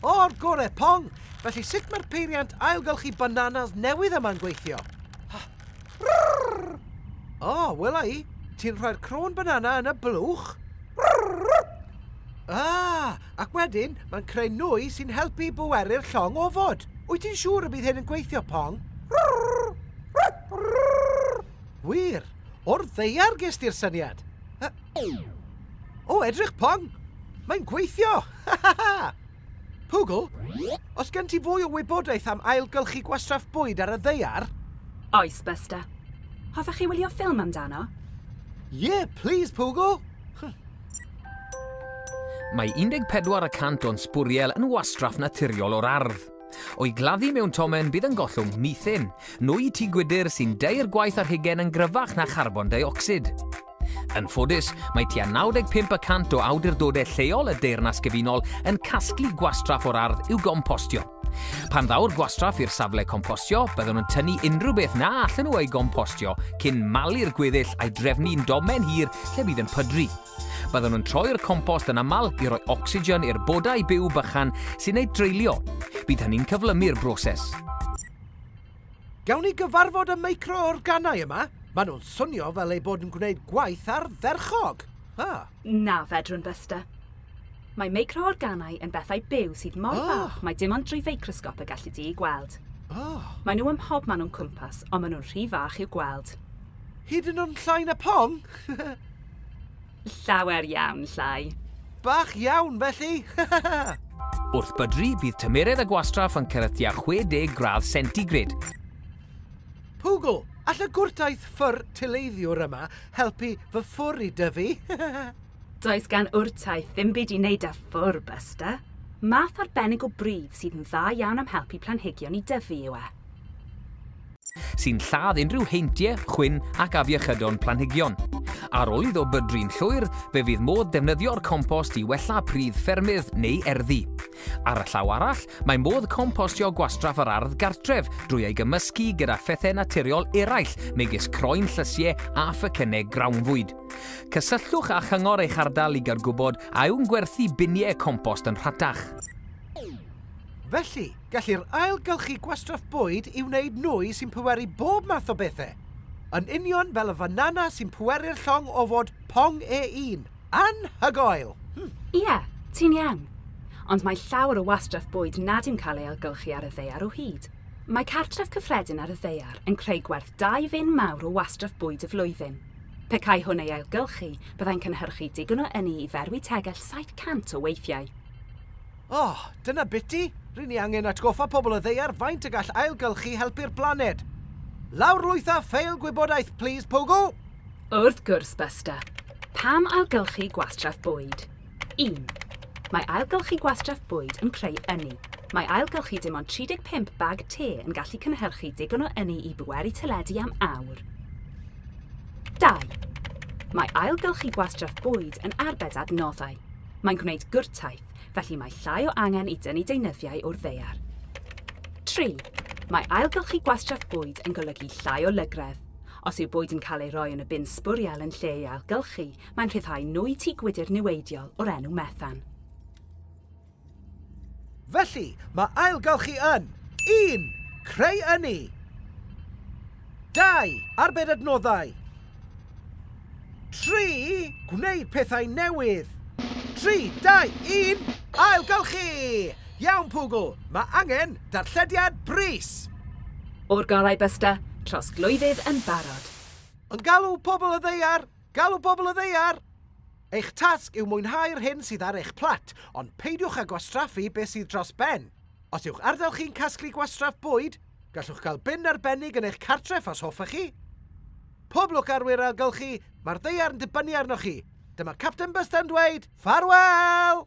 O'r gore, Pong! Felly sut mae'r peiriant ailgylchu bananas newydd yma'n gweithio? O, oh, wela i. Ti'n rhoi'r crôn banana yn y blwch? Ah, ac wedyn mae'n creu nwy sy'n helpu i bweru'r llong ofod. Wyt ti'n siŵr y bydd hyn yn gweithio, Pong? Wir, o'r ddeiar ges ti'r syniad. O, edrych pong! Mae'n gweithio! Ha ha ha! Pugl, os gen ti fwy o wybodaeth am ailgylchu gwastraff bwyd ar y ddaear? Oes, Buster. Hoffech chi wylio ffilm amdano? Ie, please, Pugl! Mae 14 y cant o'n sbwriel yn wastraff naturiol o'r ardd. O'i gladdu mewn tomen bydd yn gollwng methane, nwy tŷ gwydr sy'n deir gwaith ar hugen yn gryfach na charbon deuocsid. Yn ffodus, mae tua 95 y cant o awdurdodau lleol y Deyrnas Gyfunol yn casglu gwastraff o'r ardd i'w gompostio. Pan ddaw'r gwastraff i'r safle compostio, byddwn yn tynnu unrhyw beth na allan nhw ei gompostio cyn malu'r gweddill a'i drefnu'n domen hir lle bydd yn pydru. Byddwn yn troi'r compost yn aml i roi ocsigen i'r bodau byw bychan sy'n ei dreulio. Bydd hynny'n cyflymu'r broses. Gawn ni gyfarfod y micro-organau yma? Maen nhw'n swnio fel eu bod yn gwneud gwaith ardderchog! Ha! Na, fedrwn, Buster. Mae micro-organau yn bethau byw sydd mor oh. fach mae dim ond drwy feicrosgop y gallu di eu gweld. Oh. Maen nhw ym mhob man o'n cwmpas, ond maen nhw'n rhy fach i'w gweld. Hyd yn o'n llai na pong? Llawer iawn llai. Bach iawn, felly! Wrth bydru, bydd tymheredd y gwastraff yn cyrraedd tua 60 gradd centigrade. Pwgl! All y gwrtaith ffwr tileiddiwr yma helpu fy ffwr i dyfu? Does gan wrtaith ddim byd i wneud â ffwr, Buster. Math arbennig o bridd sydd yn dda iawn am helpu planhigion i dyfu yw e. sy'n lladd unrhyw heintiau, chwyn ac afiechydon planhigion. Ar ôl iddo bydru'n llwyr, fe fydd modd defnyddio'r compost i wella pridd ffermydd neu erddi. Ar y llaw arall, mae modd compostio gwastraff yr ardd gartref drwy ei gymysgu gyda phethau naturiol eraill megis croen llysiau a phecynnau grawnfwyd. Cysylltwch â chyngor eich ardal i gael gwybod a yw'n gwerthu biniau compost yn rhatach. Felly, Gellir ailgylchu gwastraff bwyd i wneud nwy sy'n pweru bob math o bethau. Yn union fel y fanana sy'n pweru'r llong o fod pong ei un. Anhygoel! Hm! Ie, ti'n iawn. Ond mae llawer o wastraff bwyd nad yw'n cael ei ailgylchu ar y ddaear o hyd. Mae cartref cyffredin ar y ddaear yn creu gwerth dau fin mawr o wastraff bwyd y flwyddyn. Pe cai hwn ei ailgylchu, byddai'n cynhyrchu digon o ynni i ferwi tegell 700 o weithiau. O, dyna biti! Ry'n ni angen atgoffa pobl y ddaear faint y gall ailgylchu helpu'r blaned. Lawrlwytha ffeil gwybodaeth, plis, Pogo! Wrth gwrs, Buster. Pam ailgylchu gwastraff bwyd? Un. Mae ailgylchu gwastraff bwyd yn creu ynni. Mae ailgylchu dim ond 35 bag te yn gallu cynhyrchu digon o ynni i bweru teledu am awr. Dau. Mae ailgylchu gwastraff bwyd yn arbed adnoddau. Mae'n gwneud gwrtaith. felly mae llai o angen i dynnu deunyddiau o'r ddaear. Tri, mae ailgylchu gwastraff bwyd yn golygu llai o lygredd. Os yw bwyd yn cael ei roi yn y bin sbwriel yn lle ei ailgylchu, mae'n rhyddhau nwy tŷ gwydr niweidiol o'r enw methan. Felly, mae ailgylchu yn un, Creu ynni 2. Arbed adnoddau Tri, gwneud pethau newydd. Tri, dau, un, ailgylchu! Iawn, Pwgl, mae angen darllediad brys! O'r gorau, Buster. Trosglwyddydd yn barod. Yn galw pobl y ddaear! Galw pobl y ddaear! Eich tasg yw mwynhau'r hyn sydd ar eich plat, ond peidiwch â gwastraffu beth sydd dros ben. Os yw'ch ardal chi'n casglu gwastraff bwyd, Gallwch gael bin arbennig yn eich cartref os hoffech chi. Pob lwc ar wir ailgylchu, mae'r ddaear yn dibynnu arnoch chi. Dyma Capten Buster yn dweud, ffarwel!